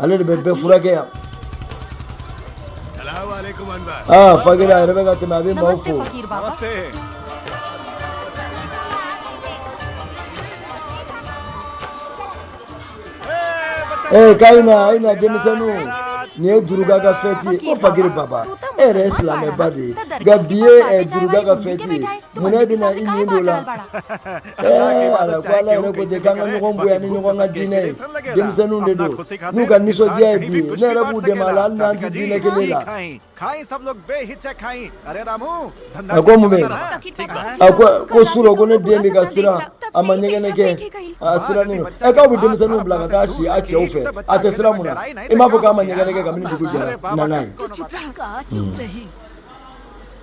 ale de bɛ bɛɛ furakɛ yan aa fakiri a yɛrɛ bɛ ka tɛmɛ a bɛ maaw fo ee k'a ye na a ye na denmisɛnninw nin ye duruga ka fɛti ye ko fakiri baba e yɛrɛ ye silamɛba de ye nka bi ye duruga ka fɛti ye mun n'e bɛna i nin don a la denmisɛnninw de don n'u ka nisɔndiya ye bi ne yɛrɛ b'u dɛmɛ a la hali n'an tɛ diinɛ kelen la a ko mun bɛ a ko ko surɔ ko ne den bɛ ka siran a ma ɲɛgɛnɛ kɛ a sirannen don ɛ k'aw bɛ denmisɛnninw bila ka taa si a cɛw fɛ a tɛ siran mun na i m'a fɔ k'a ma ɲɛgɛnɛ kɛ kabini dugu jɛra nana ye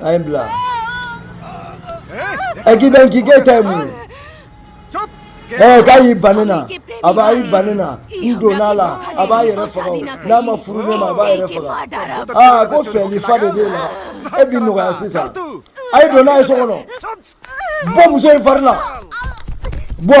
A ye n bla. Ɛ k'i dɛ, k'i kan tɛ mɛn. Ɛ k'a y'i ban a na, a ba y'i ban a na, n donna a la, a b'a yɛrɛ faga o, n'a ma furu ne ma, a b'a yɛrɛ faga. Aa ko fɛli fa de b'e la, e bi nɔgɔya sisan. A ye don n'a ye so kɔnɔ, bɔ muso in fari la, bɔ.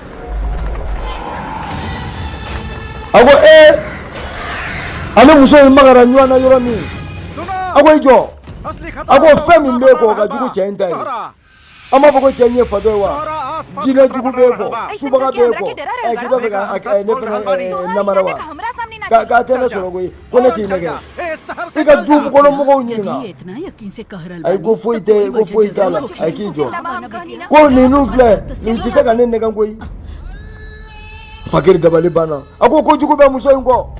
a ko ee eh, a ni muso in magara ɲɔgɔn na yɔrɔ min a ko i jɔ a ko fɛn min b'e kɔ ka jugu cɛ in ta ye a m'a fɔ ko cɛ in ye fatɔ ye wa jinɛ jugu b'e kɔ subaga b'e kɔ ɛ k'i b'a fɛ ka ne fana namara wa k'a tɛ ne sɔrɔ koyi ko ne k'i nɛgɛn i ka du kɔnɔ mɔgɔw ɲininka ayi ko foyi tɛ ko foyi t'a la ayi k'i jɔ ko ninnu filɛ nin tɛ se ka ne nɛgɛn koyi fakiri dabali banna a ko ko jugu bɛ muso in kɔ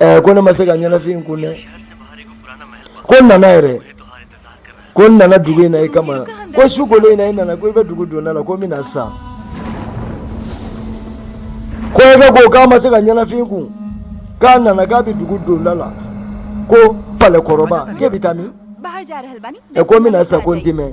eh, ko ne ma se ka ɲɛnafin kun dɛ ko n nana yɛrɛ ko n nana dugu in na i kama ko su kolen in na i nana ko i bɛ dugu donda la ko n bɛ na sa ko i bɛ ko k'a ma se ka ɲɛnafin kun k'a nana k'a bɛ dugu donda la ko palɛkɔrɔba k'e bɛ taa min ɛ ko n bɛ na sa ko n tɛ mɛn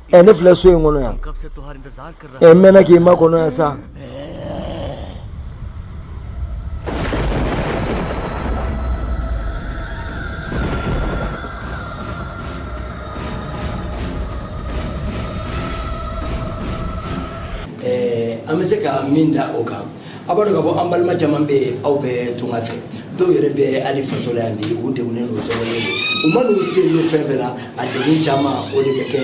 ɛ ne filɛ so in kɔnɔ yan ɛ n mɛnna k'i makɔnɔ yan sa an bɛ se ka min da o kan A b'a dɔn k'a fɔ an balima caman bɛ yen aw bɛ tunga fɛ dɔw yɛrɛ bɛ hali faso la yan bi u degunnen don tɔɔrɔlen don u ma n'u se n'u fɛn fɛn na a degun caman o de bɛ kɛ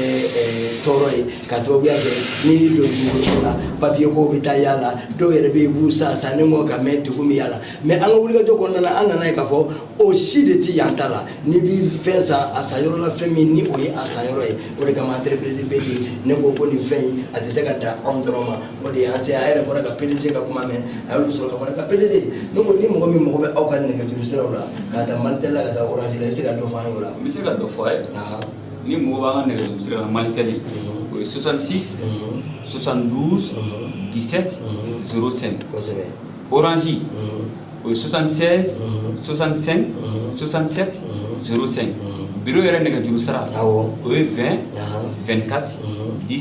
tɔɔrɔ ye ka sababuya kɛ n'i y'i don dugukolo la papiye ko bɛ taa y'a la dɔw yɛrɛ bɛ yen u b'u san sanni kɔ ka mɛn degun bɛ y'a la mɛ an ka wulikajɔ kɔnɔna na an nana ye k'a fɔ o si de tɛ an ta la n'i b'i fɛn san a san yɔrɔ la fɛn min ni o ye a san yɔrɔ ye o de kama entreprise Pedi ne ko ko nin fɛn in a tɛ se ka dan anw dɔrɔn ma O de an se a yɛrɛ bɔra ka PDG ka kuma mɛn a y'olu sɔrɔ ka bɔ an ka PDG donc ni mɔgɔ min mago bɛ aw ka nɛgɛjuru siraw la ka taa Malitel la ka taa Orange la i bɛ se ka dɔ fɔ an ye o la n bɛ se ka dɔ fɔ a ye n'i mago b'an ka nɛgɛjuru sira la Malitel o ye soixante-six soixante-douze dix-sept zéro cinq kosɛbɛ Orange o ye sonsan sonsansen sonsansɛ sen bi yɛrɛ nɛgɛ duuru sara o ye fɛn fɛnkati di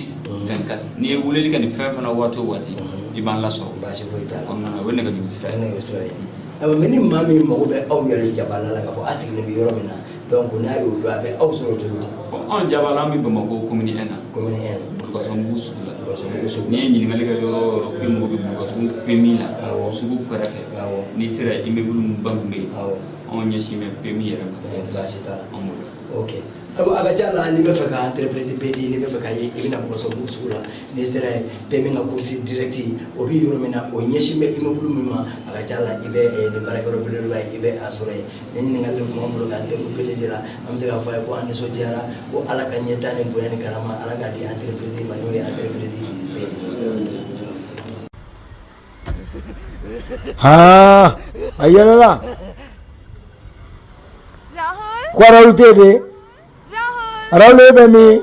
fɛnkati n'i ye wulili ka nin fɛn fana waati waati i b'an lasɔrɔ basi foyi ta o nɛgɛ nɛgɛ sira ye mɛ ni maa min mago bɛ aw yɛrɛ jaba la ka fɔ a sigilen bɛ yɔrɔ min na Donc n'a y'o dɔn a bɛ aw sɔrɔ cogo di anw jabala an bɛ Bamakɔ commune un na commune un Bulukasunbugu sugu la n'i ye ɲininkali kɛ yɔrɔ o yɔrɔ k'i mago bɛ Bulukasunbugu PMI la sugu kɛrɛfɛ n'i sera immeuble ba min bɛ yen anw ɲɛsin bɛ PMI yɛrɛ ma a ka ca la n'i b'a fɛ ka entreprise Pedi n'i b'a fɛ k'a ye i bɛna mɔgɔ sɔrɔ sugu la n'i sera PMI ka kurusi dɛrɛti o bɛ yɔrɔ min na o ɲɛsin bɛ immeuble min ma a ka ca la i bɛ nin baarayɔrɔ bɛla i bɛ a sɔrɔ yen Nin ɲininkali de tun b'an bolo k'an degun PDG la, an bɛ se k'a fɔ a ye ko an nisɔndiyara, ko Ala ka ɲɛtaa ni bonya ni karama Ala k'a di entreprise in ma n'o ye entreprise Pedi Haa a yɛlɛla Rahul ko Rahul tɛ yen de Rahul Rahul e bɛ min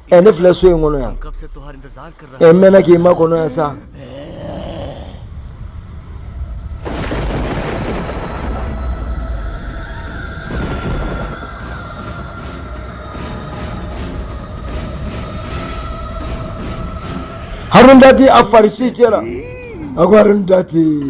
ɛ ne filɛ so in kɔnɔ yan ɛ n mɛnna k'i makɔnɔ yan sa Arundhati a farisi cɛla a ko Arundhati